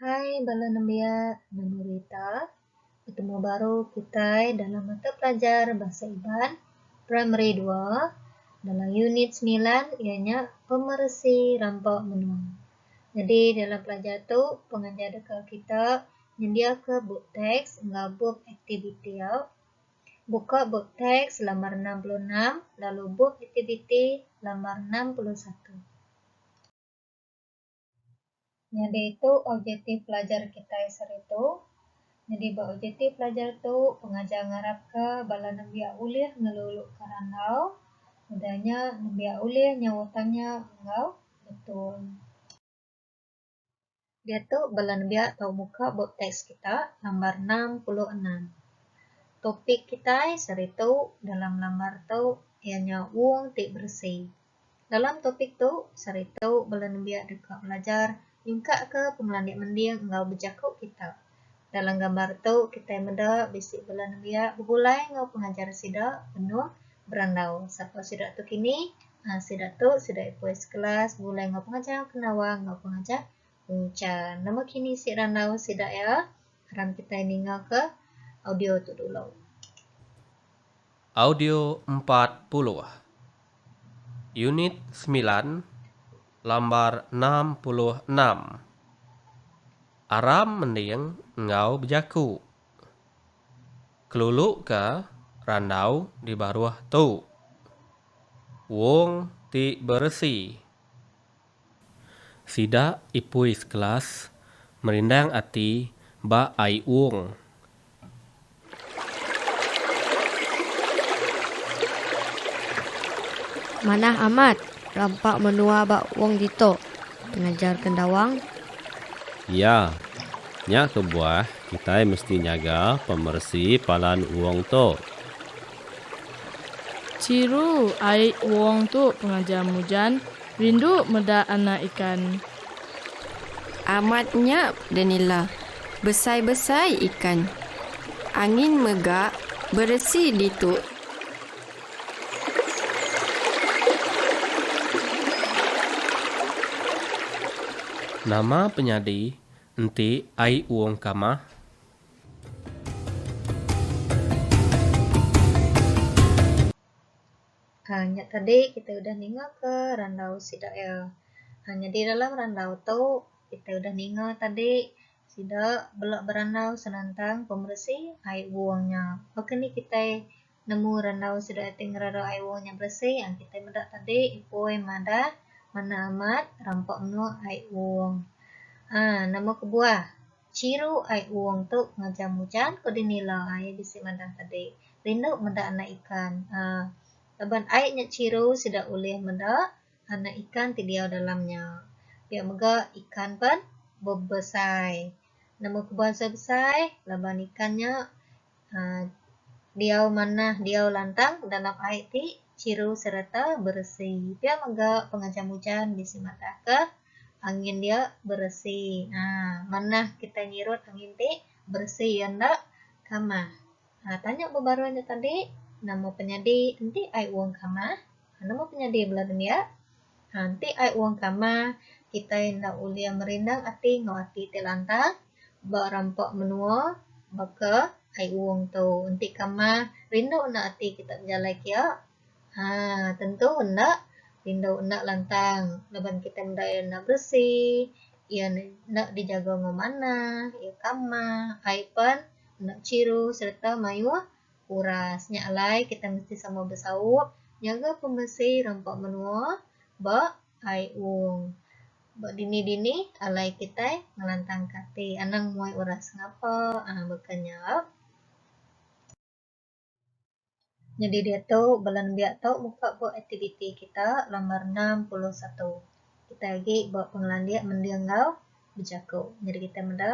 Hai bala nembiak Menua Rita, betemu baru kitai dalam mata pelajar Bahasa Iban Primary Dua dalam unit semilan iya nya Pemeresi Rampa Menua. Nyadi dalam pelajar tu pengajar deka kita nyendiaka bup teks enggau bup aktiviti au. Buka bup teks lambar enam puluh enam lalu bup aktiviti lambar enam puluh satu. Nyadi tu objektif pelajar kitai seharitu. Nyadi ba objektif pelajar tu, pengajar ngarapka bala nembiak ulih ngelulukka randau, udah nya nembiak ulih nyauh tanya enggau betul. Diatu bala nembiak tau muka bup teks kita lambar enam puluh enam. Topik kitai seharitu dalam lambar tu iya nya wong ti beresi. Dalam topik tu, sehari tu bela nembiak deka belajar nyungkakka pengelandik mending enggau bejaku kita. Dalam gambar tu, kitai meda bisi bela nembiak begulai enggau pengajar sida penuh berandau. Sapa sida tu kini? Aa sida tu sida ipoi sekelas begulai enggau pengajar Penawang enggau pengajar Unchan. Nama kini isi randau sida iya? Aram kitai ningaka audio tu dulu. Audio empat puluh. Unit semilan, lambar enam puluh enam Aram mending enggau bejaku Keluluka randau di baruh tu Wong ti beresi. Sida ipui sekelas merindang ati ba ai ung. Manah amat rampa menua ba ung ditu, pengajar kendawang. Ya, nya kebuah kitai mesti nyaga pemeresi palan ung tu. Chiru ai ung tu, pengajar Mujan. Rindu meda anak ikan. Amat nya denila besai-besai ikan. Angin mega beresi ditu. Nama penyadi enti ai uong kamah? Aaa nya tadi kitai udah ningaka randau sida iya. Aaa nyadi dalam randau tu kitai udah ninga tadi sida bela berandau senentang pemeresi ai wong nya. Pak keni kitai nemu randau sida iya ti ngerara ai wong nya beresi aaa kitai meda tadi ipoi madah manah amat rampa menua ai wong. Aaa nama kebuah. Chiru ai uong tu ngajar mujan ko dini la ai bisi mandang tadi. Rindu meda anak ikan uhh laban ai nya chiru sida ulih meda anak ikan ti diau dalam nya. Pia mega ikan pen bebesai. Nemu ke bangsa besai laban ikan nya. Um Diau manah diau lantang dalam ai ti chiru sereta beresi. Pia mega pengejam ujan bisi madahka angin dia beresi. Um Manah kitai nyirut angin ti beresi iya enda kamah. Um Tanya bebaroi nya tadi nama penyadi enti ai wong kamah? Nama ke nyadi bela nembiak? Haa enti ai wang kama kitai enda ulih merindang ati enggau ati ti lantang ba rampa menua baka ai wang tu enti kama rindu enda ati kita bejalai kia haa tentu enda rindu enda lantang laban kitai meda iya enda beresi iya enda dijaga enggau manah iya kama ai pan enda chiru sereta mayuh Uras nya alai kita mesti sama besaup nyaga pemesi rampa menua ba Ai Ung. Ba dini-dini alai kitai ngelantangka ati anang muai uras ngapa uhh baka nya. Nyadi diatu bala nembiak tu muka ba aktiviti kita lambar enam puluh satu. Kitai agi ba pengelandik mending enggau bejaku. Nyadi kitai meda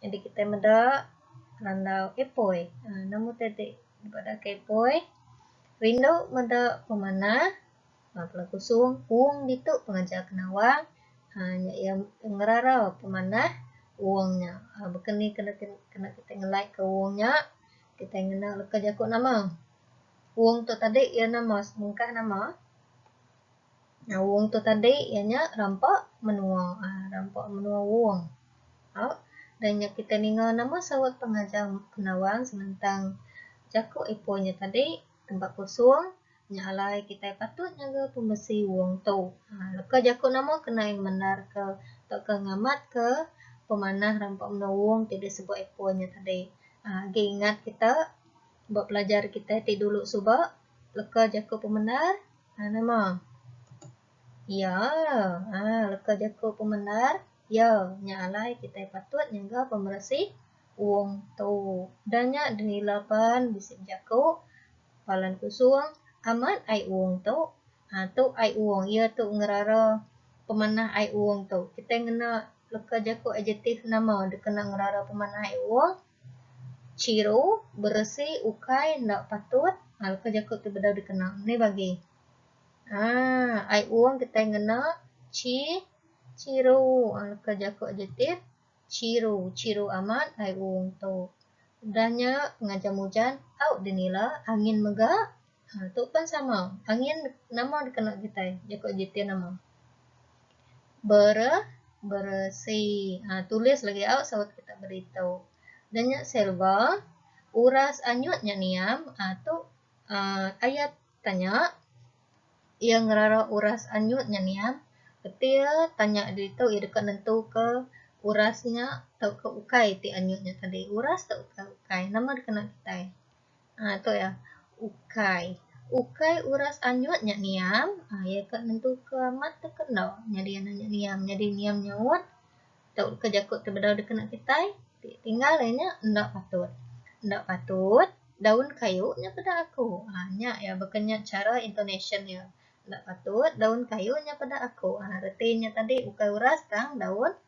Jadi kitai meda randau ipoi. Ha, nama utai ti dibadaka ipoi? Rindu meda pemanah. Ha, pula kusung, ung ditu pengaja ke nawang. Ha, nya iya ngerarau pemanah ung nya. Ha, baka ni kena kena kitai ngelai ke ung nya? Kitai ngena leka jaku nama. Ung tu tadi iya nama, semengkah nama. Wong tu tadi iya nya rampa menua um rampa menua wong um da nya kitai ninga nama saut pengajar Penawang senentang jaku Ipoh nya tadi tempat kosong nya alai kitai patut nyaga pemesi wong tu um leka jaku nama kena iya mendar ke tauka ngamat ke pemanah rampa menua wong ti disebut Ipoh nya tadi um agi ingat kita ba pelajar kitai ti dulu suba leka jaku pemendar Ha nama? Iya. Ha leka jaku pemendar iya nya alai kitai patut nyaga pemeresi Wong tu. Da nya denila pan bisi bejaku Palan Kusung amat ai Wong tu. Ha tu ai Wong iya tu ngerara pemanah ai Wong tu. Kitai ngena leka jaku adjektif nama dikena ngerara pemanah ai Wong? Chiro, beresi ukai enda patut aa leka jaku tu bedau dikena meh bagi aa ai ung kitai ngena chi chiro aa leka jaku adjektif chiro chiro amat ai ung tu udah nya ngajam ujan au dinila angin mega. Ha, tu pen sama. Angin nama dikena kitai? Jaku adjektif nama. Ber, beresi. Ha, tulis lagi au saut kita beri tu. Dan nya selva, uras anyut nya niam. Ha, tu uh, ayat tanya. Ia ngerara uras anyut nya niam. Ketir tanya diri tu, ia deka nentu ke uras nya tau ke ukai ti anyut nya tadi. Uras tau ke ukai. Nama dikena kitai? Aaa tu iya. Ukai. Ukai uras anyut nya niam. Aaa iya ka nentu ke amat tu ke enda nyadi anak nya niam. Nyadi niam nyaut tu ke jaku ti bedau dikena kitai ti tinggal iya nya enda patut. Enda patut daun kayu nya peda aku. Aaa nya iya baka nya chara intonasyen iya. Enda patut daun kayu nya peda aku. Aaa reti nya tadi ukai uras tang daun.